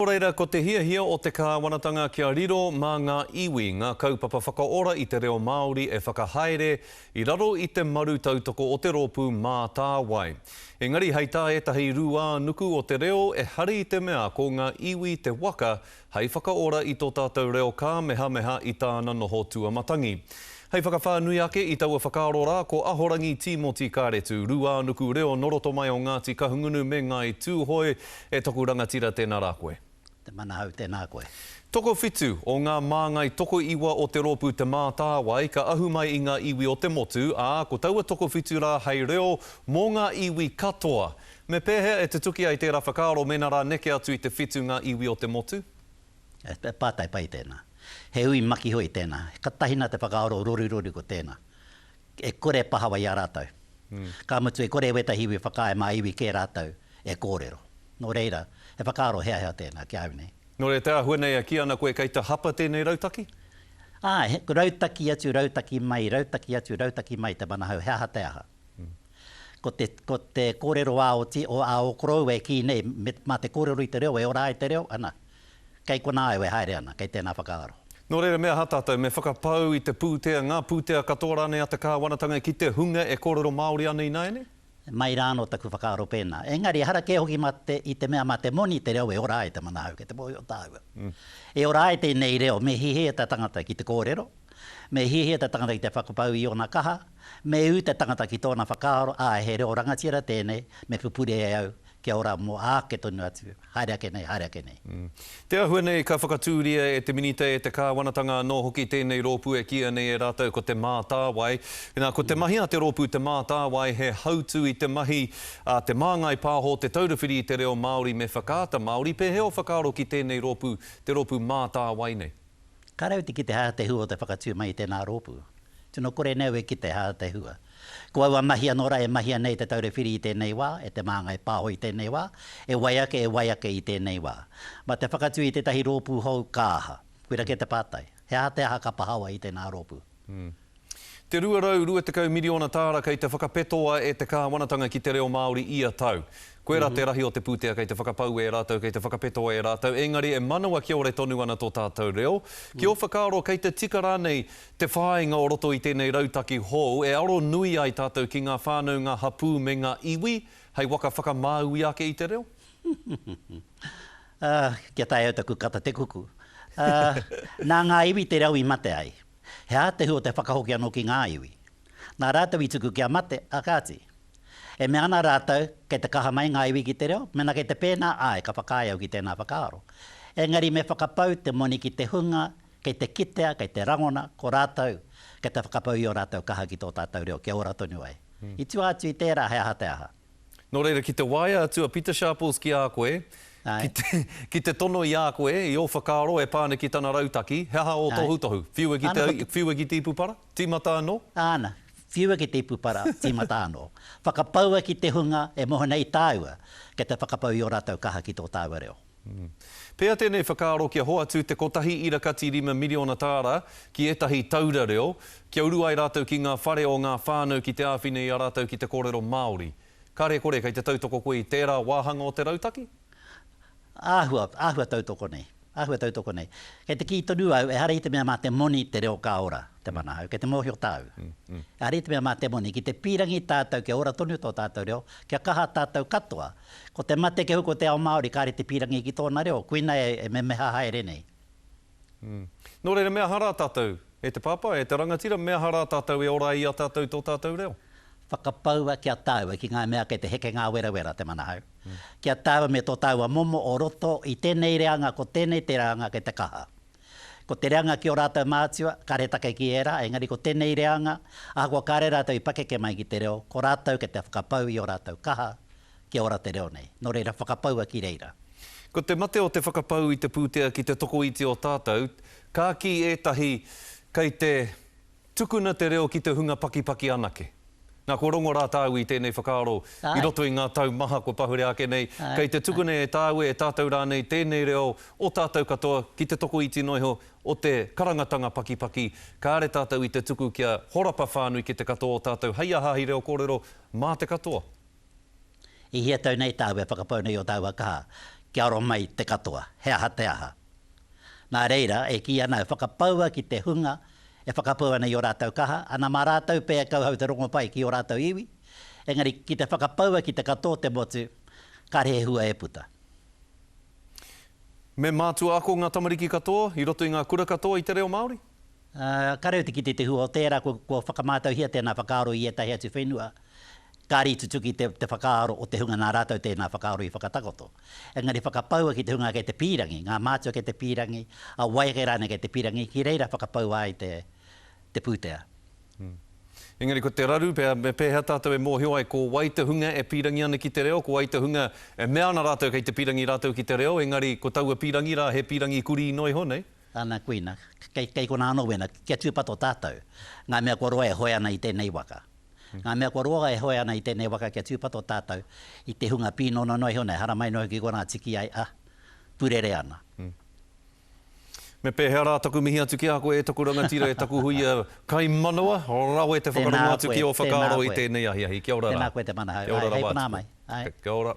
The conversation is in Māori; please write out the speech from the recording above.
Nō reira, ko te hiahia o te kāwanatanga kia riro mā ngā iwi ngā kaupapa whakaora i te reo Māori e whakahaere i raro i te maru tautoko o te rōpū Mātāwai. Engari hei tā ētahi rūānuku o te reo e hari i te mea ko ngā iwi te waka hei whakaora i tō tātou reo kāmehameha i tāna noho tuamatangi. Hei whakawhānui ake i taua whakaaro rā, ko Ahorangi Tīmoti Kāretu, Rūānuku Reo nō roto mai o Ngāti Kahungunu me Ngāi Tūhoe, e toku rangatira tēnā rā koe. Te Manahau tēnā koe. Tokowhitu o ngā māngai tokoiwa o te rōpū Te Mātāwai ka ahu mai i ngā iwi o te motu, ā, ko taua tokowhitu rā hei reo mō ngā iwi katoa. Me pēhea e tutuki ai tērā whakaaro mēnā rā neke atu i te whitu ngā iwi o te motu? He pātai pai tēnā. He hui makihoi tēnā. Katahi nā te whakaaro rorirori ko tēnā. E kore e pahawa i a rātou. Ka mutu e kore wētahi iwi whakaae mā iwi kē rātou e kōrero. Nō reira, he whakaaro hea hea tēnā ki a au nei. Nō reira, te āhua nei e kī ana koe kei te hapa tēnei rautaki? Āe, rautaki atu, rautaki mai, rautaki atu, rautaki mai te mana hou, he aha te aha. Ko te, ko te kōrero ā-oti, ā-okoroua e kī nei, mā te kōrero i te reo e ora ai te reo, ana. Kei konā au e haere ana, kei tēnā whakaaro. Nō reira, me aha tātou? Me whakapau i te pūtea, ngā pūtea katoa rānei a te kāwanatanga ki te hunga e kōrero Māori ana ināianei? Mai rā anō taku whakaaro pēnā. Engari, ehara kē hoki mā te, i te mea mā te moni te reo e ora ai te manahau kei te mōhio tāua. E ora ai tēnei reo, me hiahia te tangata ki te kōrero, me hiahia te tangata ki te whakapau i ōna kaha, Me ū te tangata ki tōna whakaaro, āe, he reo rangatira tēnei, me pupuri e au, kia ora mō āke tonu atu, haere ake nei, haere ake nei. Te āhua nei ka whakatūria e te Minita, e te Kāwanatanga anō hoki tēnei rōpū e kīia nei e rātou ko Te Mātāwai. Nā, ko te mahi a te rōpū Te Mātāwai he hautū i te mahi a Te Māngai Pāho Te Taura Whiri i te Reo Māori me Whakaata Māori. Pēhea o whakaaro ki tēnei rōpū, te rōpū Mātāwai nei? Ka rau te kite hā te hua o te whakatū mai i tēnā rōpū. Tino kore nei au e kite hā te hua. Ko aua mahi anō rā e mahia nei te Taura Whiri i tēnei wā, e Te Māngai Pāho i tēnei wā, e wai ake, e wai ake i tēnei wā. Mā te whakatū i tētahi rōpū hou ka aha? Koira kē te pātai. He aha te aha ka pahawa i tēnā rōpū? Te 220 miriona tāra kei te whakapetoa e te kāwanatanga ki te reo Māori ia tau. Koirā te rahi o te pūtea kei te whakapau e rātou, kei te whakapetoa e rātou, engari e manawa kiore tonu ana tō tātou reo. Ki ō whakaaro kei te tika rānei te whāinga o roto i tēnei rautaki hou e aro nui ai tātou ki ngā whānau, ngā hapū me ngā iwi hei waka whakamāui ake i te reo? Kia taea au taku kata te kuku. Nā ngā iwi te reo i mate ai. He ātehu o te whakahoki anō ki ngā iwi. Nā rātou i tuku kia mate, ā, kāti. E mea ana rātou, kei te kaha mai ngā iwi ki te reo, mēnā kei te pēnā, āe, ka whakaae au ki tēnā whakaaro. Engari me whakapau te moni ki te hunga, kei te kitea, kei te rangona, ko rātou, kei te whakapau i ō rātou kaha ki tō tātou reo, kia ora tonu ai. I tua atu i tērā he aha te aha. Nō reira, ki te waea atu a Pita Sharples ki a koe, ki te, ki te tono i a koe, i ō whakaaro e pā ana ki tana rautaki, he aha ō tohutohu? Whiua ki te, whiua ki te ipu para? Tīmata anō? Āna, whiua ki te ipu para, tīmata anō. Whakapaua ki te hunga e moe nei tāua, kei te whakapau i ō rātou kaha ki tō tāua reo. Pea tēnei whakaaro kia hoatu te kotahi ira kati rima miriona tāra ki ētahi taura reo, kia uru ai rātou ki ngā whare o ngā whānau ki te āwhina i a rātou ki te kōrero Māori. Kāre kore kei te tautoko koe i tērā wāhanga o te rautaki? Āhua, āhua tautoko nei, āhua tautoko nei. Kei te kī tonu au, ehara i te mea mā te moni te reo ka ora, te mana au, kei te mōhio tāu. Ehara i te mea mā te moni, ki te pīrangi tātou kia ora tonu tō tātou reo, kia kaha tātou katoa, Ko te mate kia hoko te ao Māori, kāre te pīrangi ki tōna reo, koina e memeha haere nei. Nō reira, me aha rā tātou, e te Pāpā, e te rangatira, me aha rā tātou e ora ai i a tātou tō tātou reo? Whakapaua ki a tāua ki ngā mea kei te heke ngā werawera, te manahau, ki a tāua me tō tāua momo o roto i tēnei reanga, ko tēnei te reanga kei te kaha. Ko te reanga ki ō rātou mātua, kāre take ki ērā, engari ko tēnei reanga, ahakoa kāre rātou i pakeke mai ki te reo, ko rātou kei te whakapau i ō rātou kaha, kia ora te reo nei. Nō reira, whakapaua ki reira. Ko te mate o te whakapau i te pūtea ki te tokoiti o tātou, ka kī ētahi, kei te. Tukuna te reo ki te hunga pakipaki anake. Na ko Rongo ra tāu i tēnei whakaaro i roto i ngā tau maha kua pahure ake nei, kei te tukuna e tāu e tātou rānei tēnei reo o tātou katoa ki te tokoiti noa iho o te karangatanga pakipaki, kāre tātou i te tuku kia horapa whānui ki te katoa o tātou hei aha hei reo kōrero mā te katoa. I hia tau nei tāu e whakapau nei o tāua kaha kia aro mai te katoa, he aha te aha? Nā reira, e kī ana, e whakapaua ki te hunga e whakapau ana i ō rātou kaha, ana mā rātou pea e kauhau te rongopai ki ō rātou iwi, engari ki te whakapaua ki te katoa o te motu, kāre he hua e puta. Me mātua ako ngā tamariki katoa i roto i ngā kura katoa i te reo Māori. Ā, kāore au te kite te hua o tērā kua whakamātauhia tēnā whakaaro i ētahi atu whenua, kāre i tutuki te whakaaro o te hunga nā rātou tēnā whakaaro i whakatakoto. Engari whakapaua ki te hunga kei te pīrangi, ngā mātua kei te pīrangi, a wai ake rānei kei te pīrangi, ki reira whakapaua ai te pūtea. Engari ko te raru, me pēhea tātou e mōhio ai ko wai te hunga e pīrangi ana ki te reo, ko wai te hunga e mea ana rātou kei te pīrangi rātou ki te reo, engari ko taua pīrangi rā he pīrangi kurī noa iho nei? Ana kuina, kei konā anō wēnā, kia tūpato tātou, ngā mea kua roa e hoe ana i tēnei waka. Ngā mea kua roa e hoe ana i tēnei waka kia tūpato tātou i te hunga pīnono noa iho nei, haramai noa iho ki konā tiki ai, ā, purere ana. Me pēhea rā taku mihi atu ki a koe e taku rangatira, e taku huia kai manawa, rawe te whakarongo atu ki ō whakaaro i tēnei ahiahi. Kia ora rā. Tēnā koe te mana hau. Kia ora rawa atu. Hei konā mai. Kia ora.